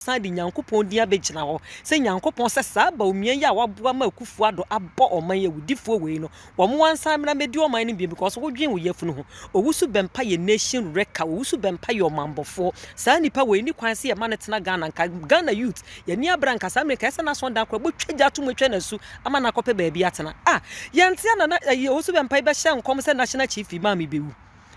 san de Nyankopɔn din abɛgyina hɔ sɛ Nyankopɔn sɛ saa Bawumia yi a waboa ma Akufo Addo abɔ ɔman yi awudifoɔ wei no wɔn ansan mmra mmɛdi ɔman no bio because wo dwen wo yafunu ho Owusu Bɛmpa yɛ nation wrecker Owusu Bɛmpa yɛ ɔmanbɔfoɔ saa nipa wei nni kwan sɛ yɛ ma no tena Ghana nka Ghana youth yɛ ani abere anka saa mmerɛ nka ɛsɛ n'aso dan koraa bɛtwa gya ato mu atwa no asu ama no akɔpɛ baabi atena ah yɛnte ana na ɛyi Owusu Bɛmpa yi bɛhyɛ nkɔm sɛ national chief imam yi bɛwu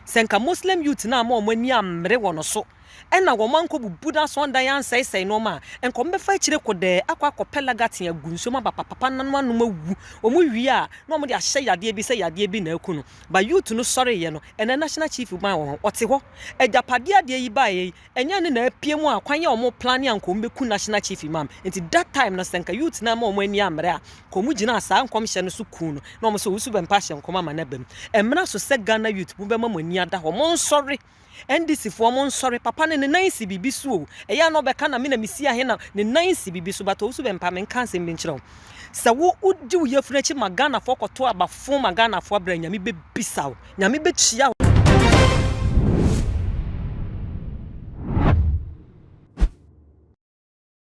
sɛ nka Muslim youth no amma wɔn ani ammere wɔ no so. Ɛnna wɔn ankɔbubu n'asɔrdan ansɛesɛe nneɛma a anka wɔbɛfa akyire kɔ dɛɛ akɔ akɔpɛ laga tee agu nsuom aba papapa na no anom awu. Wɔwie a, na wɔde ahyɛ yadeɛ bi sɛ yadeɛ bi na aku no. Ba Youth no sɔreeɛ no, ɛnna National Chief bɛn wɔ hɔ. Ɔte hɔ. Agyapadeɛ adeɛ yi baeɛ yi, ɛnyɛ ne na apue mu a kwan a wɔplane a anka wɔbɛku National Chief mam. Nti that time no, sɛ anka Youth no amma wɔn ani ammrɛ a, anka wɔgyinaa saa nkɔmhyɛ no so kuu no, na wɔsɛ ɔwusu bɛmpa ahyɛ nkɔm ama no aba mu. Ɛmmra so sɛ Ghana Youth mobɛma mo ani ada hɔ. Monsɔre! NDC foɔ mo nsɔre papa no ne nan nsi biribi so o ɛyɛ a na ɔbɛka na me na me si ahe na ne nan nsi biribi so but ɔwusu bɛmpa me nka nsɛm bi nkyerɛ wo sɛ wo wodi wo yɛfunu akyi ma Ghana foɔ kɔto aba fo ma Ghana foɔ abira nyame bɛbisa wo nyame bɛkyia wo.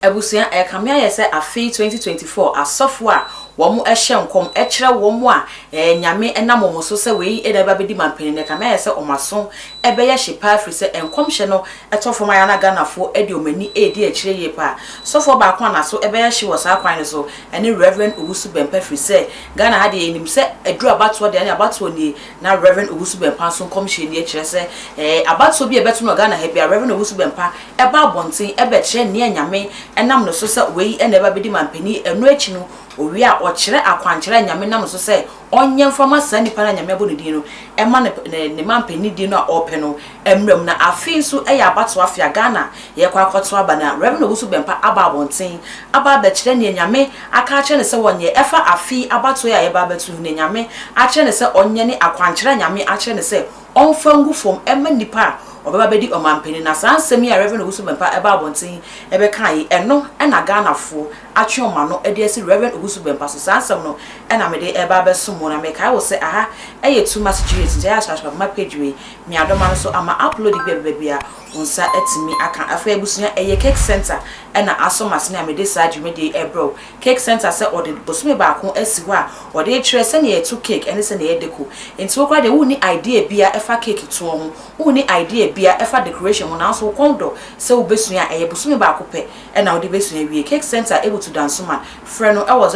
Abusua, ɛrekame ayɛ sɛ afei 2024 asɔfo a wɔn ɛhyɛ nkɔm ɛkyerɛ wɔn a ɛɛ Nyame ɛnam wɔn so sɛ wei ɛna ɛbɛ abɛdi mampanin no ɛkame ayɛ sɛ wɔn aso ɛbɛyɛ hye paa firi sɛ nkɔmhyɛ no ɛtɔ fam ayɛ na Ghanafoɔ ɛde wɔn ani ɛredi akyire yie paa. Sɔfoɔ baako a naso ɛbɛyɛ hye wɔ saa kwan no so ɛne Rev. Owusu Bɛmpa firi sɛ Ghana ha deɛ yɛnim sɛ ɛduru abatoɔ deɛ ɛne abatoɔ nie na Rev. Owusu Bɛmpa nso nkɔmhyɛ nie kyerɛ sɛ ɛɛ abatoɔ bi a ɛbɛto no wɔ Ghana ha biara Rev. Owusu Bɛmpa ɛba abɔnten bɛkyerɛ nea Nyame nam no so sɛ wei na ɛba bɛdi mampanin, ɛno akyi no owie a ɔkyerɛ akwankyerɛ a Nyame nam no so sɛ ɔnyɛ mfa ma saa nipa no a Nyame abɔ no din no ɛma no ne mampanin din no a ɔɔpɛ no mmra mu. Na afei nso ɛyɛ abatoɔ afe a Ghana yɛɛkɔ akɔto aba na Rev Owusu Bɛmpa aba abɔnten aba abɛkyerɛ nea Nyame aka akyerɛ no sɛ ɔnyɛ ɛfa afe yi abatoɔ yi a yɛɛba abɛto yi ho, nea Nyame akyerɛ no sɛ ɔnyɛ ne akwankyerɛ a Nyame akyerɛ no sɛ ɔmfa ngu fam mma nnipa a wɔbɛba abɛdi ɔmanpanin. Na saa nsɛm yi a Rev. Owusu Bɛmpa baa abɔnten bɛkaa yi, ɛno na Ghanafoɔ atwe wɔn ano de asi Rev. Owusu Bɛmpa so. Saa nsɛm no na mede reba abɛsom wo. Na mekae wo sɛ aha yɛ Too Much Genius nti, ɛyɛ a hyɛ Asopatrema page wei nuadoma no so ama upload bi a ɛbɛba biara wo nsa atumi aka. Afei abusua, ɛyɛ Cake Centre na asɔ m'asene a mede saa dwumadie yi rebrɛ wo Cake Centre sɛ ɔde bosome baako asi hɔ a ɔde rekyerɛ sɛnea yɛto cake ne sɛnea yɛdeko. Enti wo koraa deɛ wonni idea biara ɛfa cake toɔ ho, wonni idea biara ɛfa decoration ho nanso wo kɔn dɔ sɛ wobɛsua a, ɛyɛ bosome baako pɛ na wode bɛsua awie. Cake Centre wɔ tu Dansoman. Frɛ no wɔ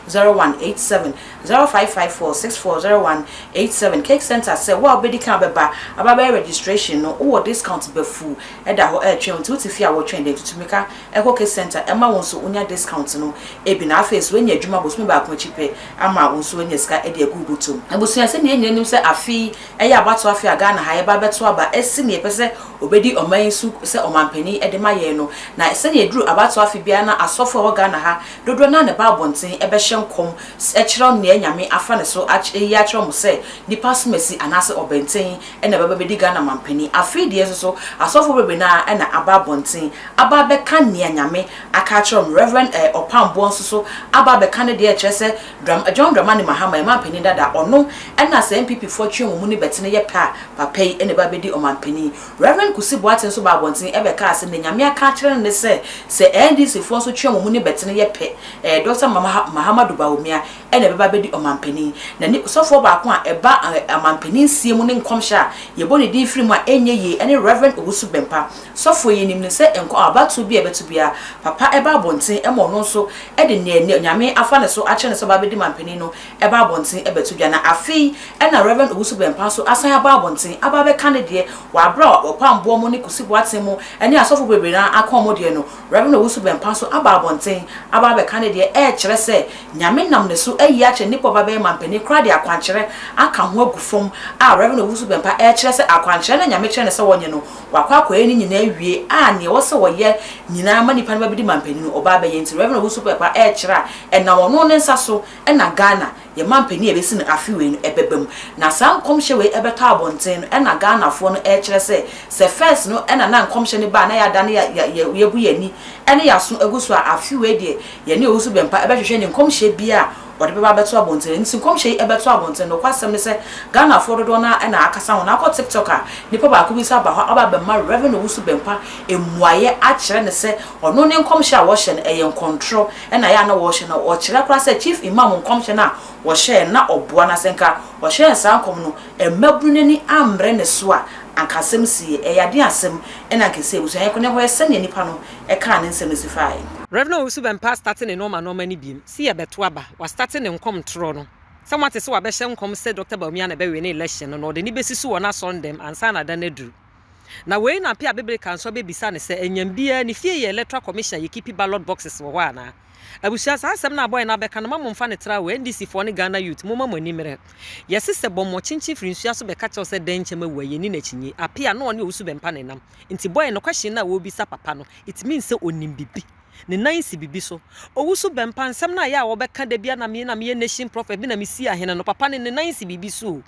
0554640187, 0554640187. Cake Centre sɛ wo a wobɛdi kan abɛba aba abɛyɛ registration no, wowɔ discount bafuu ɛda hɔ ɛretwɛn wo. Nti wote fie a woretwɛn dɛn? Tutu mmirika. Ɛkɔ Kids Center ɛma wo nso wonya discount no bi na afei nso woanya adwuma bosome baako akyi pɛ ama wo nso woanya sika de agu wo bɔtɔ mu. Abusua, sɛdeɛ yɛn nyinaa nim sɛ afe yi ɛyɛ abatoɔ afe a Ghana ha yɛba abɛto aba asi nea yɛpɛ sɛ ɔbɛdi ɔman yi so sɛ ɔmanpanin de ma yɛn no, na sɛdeɛ ɛduru abatoɔ afe biara na asɔfo a ɛwɔ Ghana ha dodoɔ no ara na ɛba abɔnten bɛhyɛ nkɔm kyerɛ nea Nyame afa ne so ayi akyerɛ wɔn sɛ nnipa asomasi anaasɛ ɔbɛnten na ɛbɛba abɛdi Ghana manpanin. Afei deɛ nso so, asɔfoɔ bebree no ara na aba abɔnten aba abɛka nea Nyame aka akyerɛ wɔn. Rev. Ɛɛ Ɔpamboɔ nso so aba abɛka ne deɛ, ɛkyerɛ sɛ Dram, John Dramani Mahama, yɛn manpanin dada, ɔno na sɛ NPPfoɔ twe wɔn mu ne bɛtene yɛ pɛ a, papa yi na ɛba abɛdi ɔmanpanin. Rev. Kusi Boateng nso baa abɔnten bɛkaa sɛ nea Nyame aka akyerɛ no ne sɛ, sɛ NDCfoɔ nso twe wɔn mu ne bɛtene yɛ pɛ, ɛɛ Dɔkta Mahamadu Bawumia, na ɛbɛba abɛdi ɔmampanin, na ne sɔfoɔ baako a ɛba ɔmampaninsie mu ne nkɔmhyɛ a yɛbɔ ne din firi mu a ɛnyɛ yie ne Rev. Owusu Bɛmpa. Sɔfoɔ yi nim no sɛ nkwa abatoɔ bi a ɛbɛto biara, papa ba abɔnten ma ɔno nso de nea Nyame afa ne so akyerɛ no sɛ ɔba abɛdi mampanin no ba abɔnten bɛto dwa, na afei na Rev. Owusu Bɛmpa nso asan aba abɔnten aba abɛka ne deɛ wɔ aberɛ a Ɔpamboɔ mo ne Kusi Boateng mo ne asɔfoɔ bebree no ara aka wɔn deɛ no. Rev. Owusu Bempah nso aba abɔnten aba abɛka ne deɛ ɛrekyerɛ sɛ Nyame nam ne so ayi akyerɛ Nnipa Ɔbabɛyɛ Mampanin koraa de akwankyerɛ aka ho agu fam a Rev. Owusu Bempah ɛrekyerɛ sɛ akwankyerɛ no a Nyame kyerɛ no sɛ ɔnyɛ no wakɔ akɔyɛ ne nyinaa awie a nea ɛwɔ sɛ ɔyɛ nyinaa ma nnipa no bɛbedi Mampanin Ɔbabɛyɛ nti Rev. Owusu Bempah ɛrekyerɛ a ɛnam ɔno ne nsa so na Ghana Yɛn mampanin a ɛbɛsi no afe wei no ɛbɛba mu. Na saa nkɔmhyɛ wei ɛbɛtɔ abɔnten no ɛna Ghanafoɔ no ɛrekyerɛ sɛ, sɛ first no ɛna na nkɔmhyɛ no ba a na yɛadane yɛabu yɛn ani ɛne yɛn aso agu so a, afe wei deɛ yɛne Owusu Bɛmpa ɛbɛhwehwɛ ne nkɔmhyɛ biara a ɔde bɛba abɛto abɔnten no. Ɛno nti nkɔmhyɛ yi ɛbɛto abɔnten. Nokwasɛm ne sɛ, Ghanafoɔ dodoɔ no ara ɛna akasa ho. Na wokɔ TikTok a, nnipa baako bi nso aba hɔ aba abɛma Rev. Owusu Bɛmpa mmuaeɛ akyerɛ no sɛ, ɔno ne nkɔmhyɛ a wɔhyɛ no ɛyɛ nkɔntorɔ. na ɛyɛ a na wɔhyɛ no, ɔkyerɛ koraa sɛ Chief Imam nkɔmhyɛ no a wɔhyɛɛ no na ɔboa na sɛ nka ɔhyɛɛ saa nkɔm no mmabunu no ani ammrɛ ne so a anka asɛm siie. Ɛyɛ aden asɛm na anka ɛsɛ abusua yɛnkɔ na yɛnkɔ hwɛ sɛdeɛ nnipa no kaa ne nsɛm no si faaɛ. Rev Owusu Bɛmpaa starte ne nɔɔma nɔɔma no biom se yɛbɛto aba, wastarte ne nkɔm ntorɔ no sɛ moate sɛ wabɛhyɛ nkɔm sɛ Dɔkta Bawumia na ɛbɛwene election no na ɔde no bɛsi so wɔ n'asɔndɛm ansa na da no aduru. Na wei na Apia Bebereka nso abɛbisa no sɛ ɛnyam biara ne fie yɛ electoral commission a yɛkipi ballot boxes wɔ hɔ anaa? Abusua saa asɛm no a boy no abɛka no ma momfa no tra wɔ NDC foɔ ne Ghana youth momma mo ani mmere. Yɛse sɛ bɔmmɔ kyenkyen firi nsuo aso bɛka kyerɛ wo sɛ dɛn nkyɛm awu a yɛnni no akyinnye. Apia na ɔne owusu bɛmpa ne nam. Nti boy no question no a ɔrebisa papa no it means sɛ ɔnim biribi. Ne nan si biribi so. Owusu bɛmpa nsɛm no a ɛyɛ a wɔbɛka da biara na me na meyɛ nation prophet bi na mesie ahene no papa no ne nan si biribi so o.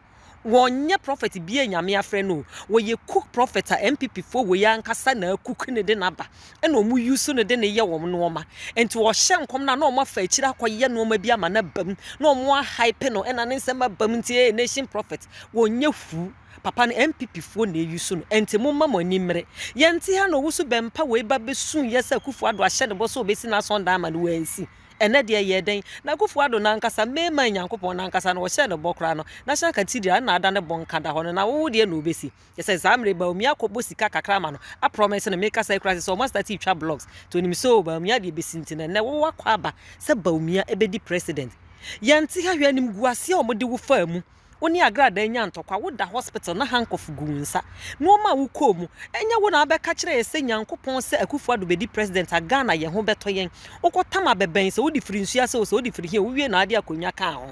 wɔnyɛ prɔfɛt bia nyame afrɛ no o wɔyɛ cook prɔfɛt a npp foɔ wei ankasa na cook ne de no aba ɛna wɔn use no de no yɛ wɔn nnoɔma nti wɔhyɛ nkɔm no a na wɔn afa akyiri akɔyɛ nnoɔma bi ama no abam na wɔn ahype no ɛna ne nsɛm abam nti ɛyɛ nation prɔfɛt wɔnyɛ fuu papa no npp foɔ na ɛyi so no ɛnti mo mma mo ani mmere yɛnte ha na ɔwusu bɛmpa wei ba bɛsu yɛ sɛ kufu ado ahyɛ ne bɔ so ɔbɛsi n'asɔndan ama no wɔansi Ɛnnɛ deɛ ɛyɛɛ dɛn? Na Akuffo Addo nankasa, May man Nyankopɔn nankasa no, wɔhyɛɛ no bɔ koraa no, National Cathedral ɛna ada ne bonka da hɔ no, na wo wo deɛ na wobɛsi? Kyerɛ sɛ saa mmerɛ yi Bawumia akɔ bɔ sika kakra ama no, a promise no, mekasa yi koraa kyerɛ sɛ wɔn astate retwa blocks, nti onim sɛ oo Bawumia deɛ bɛsi nti no, ɛnnɛ wo wo akɔ aba sɛ Bawumia ɛbɛdi President? Yɛnte ha hwɛ animguaseɛ a wɔde wo faa mu. Wo ne Agradaa nya ntɔkwa, wo da hospital na handcuff gu wo nsa. Nnoɔma a wo kɔɔ mu, ɛnyɛ wo na abɛ ka kyerɛ yɛ sɛ Nyankopɔn sɛ Akufo Addo bɛdi President a Ghana yɛ ho bɛtɔ yɛn. Wo kɔ tam a bɛbɛn sɛ wo de firi nsuo ase o, sɛ wo de firi he o, wo wie na ade akonwa kaa ho.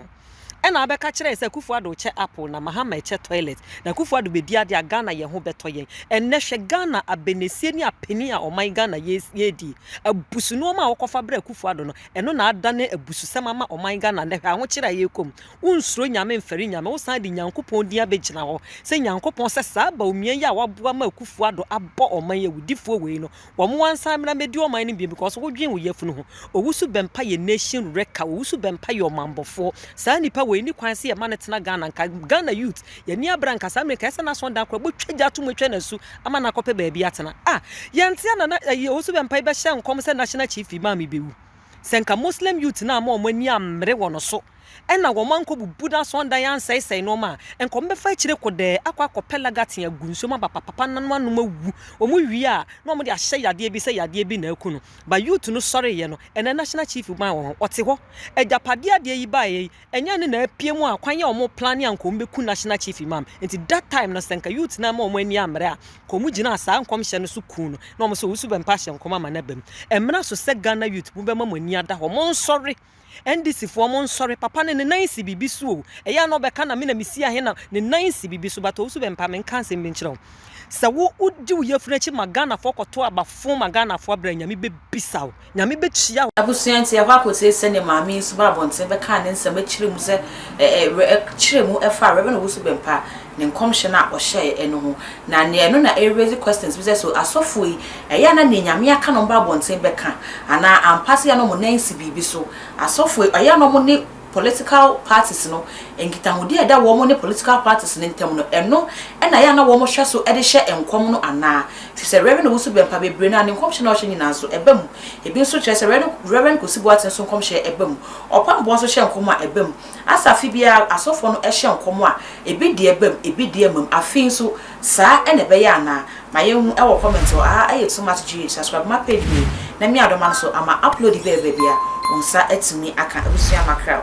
Ɛna abɛ ka kyerɛ yɛ sɛ Akufo Addo kyɛ apple na Mahama ɛkyɛ toilet. Na Akufo Addo bɛdi adeɛ a Ghana yɛ ho bɛtɔ yɛn. Ɛnnɛ hwɛ Ghana abɛnɛsie ne apanin a ɔman Ghana yɛɛdie. Abusu nnoɔma a wo kɔ fa brɛ Akufo Addo no, ɛno na adane abususɛm ama ɔman Ghana nnɛ hwɛ ahokyereɛ a yɛɛkɔ mu. wonsuro nyame mfɛre nyame wosan de Nyankopɔn din abɛgyina hɔ sɛ Nyankopɔn sɛ saa baumia yi a waboa ma Akufo Addo abɔ ɔman yi awudifoɔ wei no wɔn ansan mmra mmɛdi ɔman no bio because wodwen wo yafunu ho Owusu Bɛmpa yɛ nation wrecker Owusu Bɛmpa yɛ ɔmanbɔfoɔ saa nipa wei ni kwan sɛ yɛma no tena Ghana nka Ghana youth yɛni abra nka saa mmerɛ nka ɛsɛ n'aso dan kora bɔtwa gya atom atwa n'asu ama no akɔpɛ baabi atena a yɛnte a nana ɛyi Owusu Bɛmpa yi bɛhyɛ nkɔm sɛ national chief imam yi bɛwu sɛ nka Muslim youth no ama wɔn ani ammere wɔ no so Ɛnna wɔn ankɔbubu n'asɔndan ansɛesɛe nneɛma a anka wɔbɛfa akyire kɔ dɛɛ akɔ akɔpɛ laga tee agu nsuom aba papapa na no anom awu. Wɔwie a, na wɔde ahyɛ yadeɛ bi sɛ yadeɛ bi na aku no. Ba Youth no sɔreeɛ no, ɛnnɛ National Chief maa wɔn hɔ. Ɔte hɔ. Agyapadeɛ a adeɛ yi baeɛ yi, ɛnyɛ ne na apue mu a kwan a wɔplane a anka wɔbɛku National Chief yi maam. Enti that time no, sɛ anka Youth no amma wɔn ani ammrɛ a, anka wɔgyinaa saa nkɔmhyɛ no so kuu no na wɔn nso wɔsu bɛmpa ahyɛ nkɔm ama no aba mu. Ɛmmra so sɛ Ghana Youth mobɛma mo ani ada hɔ. Monsɔre! NDC foɔ mo nsɔre papa no ne nan nsi biribi so o ɛyɛ a na ɔbɛka na me na me si ahe na ne nan nsi biribi so but ɔwusu bɛmpa me nka nsɛm bi nkyerɛ wo sɛ wo wodi wo yafunu akyi ma Ghana foɔ kɔto aba fon ma Ghana foɔ abira nyame bɛbisa wo nyame bɛtua wo Abusua nti yɛkɔ akɔtie sɛdeɛ maame yi nso baa abɔnten bɛkaa ne nsɛm akyerɛ mu sɛ ɛ ɛ wɛ ɛ kyerɛ mu ɛfa Rev Owusu Bɛmpa ne nkɔmhyɛ no a ɔhyɛɛ ɛno ho na neɛ ɛno na ɛreraise questions bi sɛ so asɔfoɔ yi ɛyɛ a na neɛ Nyame aka na wɔba abɔnten bɛka anaa ampa sɛ yɛ a na wɔn nan nsi biribi so asɔfoɔ yi ɛyɛ a na wɔn ne political parties no nkitahodie a ɛda wɔn ne political parties no ntam no ɛno na ɛyɛ a na wɔn hwɛ so de hyɛ nkɔm no anaa ɛfiri sɛ Rev Owusu Bɛmpa bebree no a ne nkɔmhyɛ no a ɔhyɛ nyinaa nso ɛba mu ebi nso kyerɛ sɛ Rev Kwesi Boateng nso nkɔmhyɛ ɛba mu Ɔpɔn Boa nso hyɛ nkɔm a ɛba mu Asafe biara asɔfoɔ no hyɛ nkɔm a, ebi deɛ bam, ebi deɛ mmam. Afei nso, saa na ɛbɛyɛ anaa? Ma yɛnhu wɔ comment hɔ. Aha yɛ Too Much GH. Subscribe ma page wei na mia dɔ ma no so ama upload bi a ɛba baabi a, wo nsa atumi aka. Abusua Mackerel.